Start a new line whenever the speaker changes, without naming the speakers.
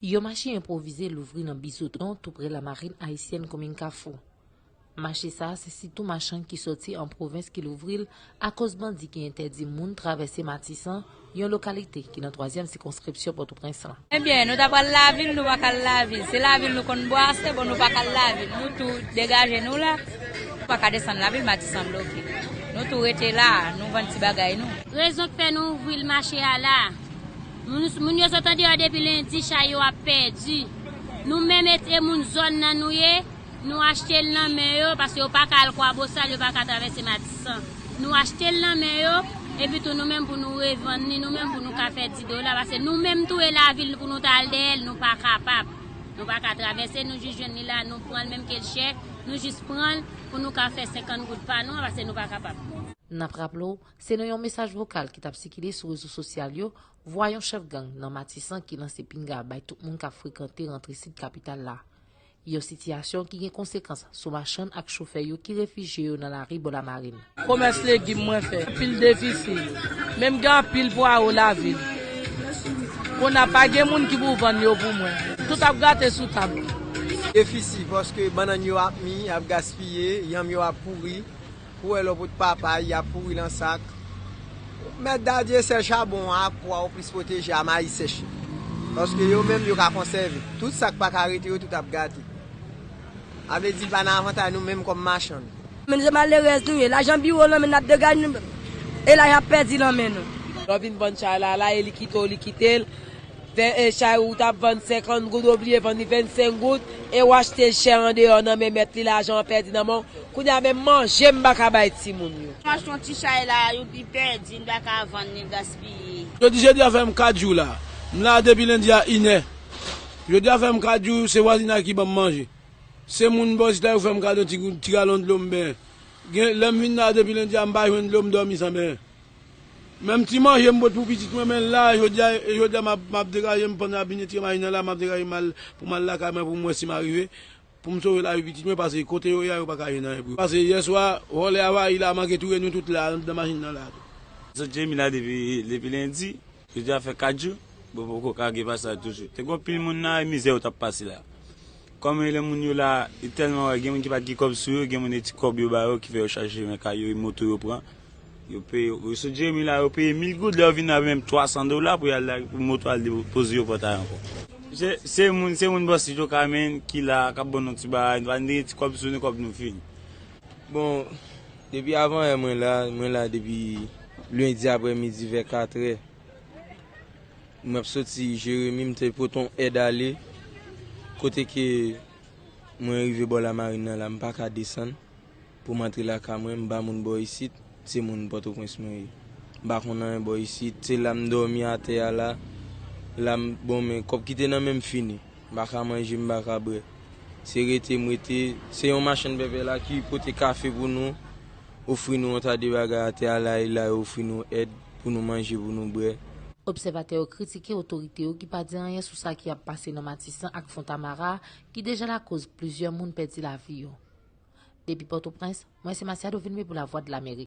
Yon mache enpwovize louvri nan Bizoton toupre Lamarin Ayisyèn komin Kafou. Mache sa a se sitou machann ki sòti an pwovens ki louvri l akoz bandi ki entèdi moun travèse Matisan, yon lokalite ki nan twazyèm sikonskripsyon Pòtoprens lan. Ebyen nou ta pral
lavil nou pa k al lavil se lavil nou konn bwase bon nou pa k al lavil nou tou degaje nou la nou pa ka desann lavil Matisan bloke nou tou rete la nou vann ti bagay nou. Rezon k fè nou ouvri
l mache a la. Moun yo sot andeyò depi lendi chay yo ap pèdi. Nou menm et e moun zòn nan nou ye, nou achte l nan men yo paske yo paka al kwabosal yo paka travèse matisan. Nou achte l nan men yo epi tou nou menm pou nou revann li nou menm pou nou ka fè di dola paske nou menm tou e lavil pou nou ta al dèyè l nou pa kapab. Nou pa ka travèse nou jis jwenn li la nou pran l menm ke l chè nou jis pran l pou nou ka fè 50 goud pa nou an paske nou pa kapab. N ap raple w
Se nan yon mesaj vokal ki t ap sikile sou rezo sosyal yo, vwa yon chèf gang nan Matisan ki lanse pinga bay tout moun k ap frekante rantre sid kapital la. Yon sitiyasyon ki gen konsekans sou machann ak chofè yo ki refijye yo nan lari bò Lamarin. Komès legim
mwen fè pil defisil, men m gen anpil pwawo lavil. Kounye a pa gen moun ki pou vann yo pou mwen, tout ap gate sou tab la. Defisi
paske bannann yo ap mi, ap gaspiye, yanm yo ap pouri, Pou wè lò pot papay yap pouri lan sak. Mèt Dadye sèl chabon an ak pwa ou plis pwoteje a mayi sèch yo. Paske yo menm yo ka konsève. Tout sak pa ka rete yo tout ap gate. A vle di li pa nan avantay nou menm kòm machann. Menm se malerèz
nou ye. Lajan biwo lan men nap degaj nou e lajan pèdi lan men nou. Lò vin vann chay la la e li kite w li kite l. Fè en chay ou tap vann 50 goud ou bliye vann li 25 goud e ou achtel chè andeyò nan men mèt li lajan an pèdi nan menw kounya menm manje m paka bay timoun yo. M achte yon ti chay la
a youpii pèdi m paka vann li gaspiye. Jodi jedi a fèm 4
jou la. M la depi lendi a inè. Jodi a fèm 4 jou se vwazinay ki banm manje. Se moun bò isit la yo fèm kado ti galon dlo m benyen. Gen lèm vin la depi lendi a m pa jwenn dlo m dòmi san benyen. Menm ti manje m pot pou pitit mwen men la jodia e jodia map degajem pandan yap vin retire machin nan la map degajem mal pou mal lakay mwen poum wè sim arive poum sove lavi pitit mwen pase kote yo ye a yo paka jwenn anyen pou yo pase yèswa vòlè avayi la manke touye nou tout la andan machin nan la tou. Sot Jemina
depi lendi. Jodi a fè 4 jou bon poko ka gen pasaj toujou. Te gen yon pil moun la e mizè yo tap pase la. Kòm e lè moun yo la e tèlman wè gen moun ki pat gen kòb sou yo, gen moun e ti kòb yo ba yo ki fè yo chache chimen kay yo e moto yo pran. Yo peye yo yo sot Jeremi la yo peye 1000 goud lè yo vini ap menm 300 dola pou yal lage pou moto al depoze yo pòtay ankò. Se se moun se moun bò Sidjo Kamen ki la kap ban nou ti bagay nou pa nou te gen ti kòb sou nou kòb nou fini. Bon
depi avan yè mwen la mwen la depi. Lendi aprè midi vè 4 è, m ap soti Jeremi, m te pote yon èd ale, kote ke mwen rive bò lamarin nan la, m pa ka desann pou m antre lakay mwen, m pa moun bò isit, se moun Pòtoprens mwen ye. M pa konn anyen bò isit, se la m dòmi atè a la, la m, bon men kòb ki te nan men m fini, m pa ka manje, m pa ka bwè, se rete m rete, se yon machann pèpè la ki pote kafe pou nou. Ofri nou yon ta de bagay atè a la e la yo ofri nou èd pou nou manje, pou nou bwè. Obsèvatè yo
kritike otorite yo ki pa di anyen sou sa ki ap pase nan Matisan ak Fontamara ki deja lakoz plizyè moun pèdi lavi yo. Depi Pòtoprens, mwen se Masiado Vilmé pou Lavwadlamerik.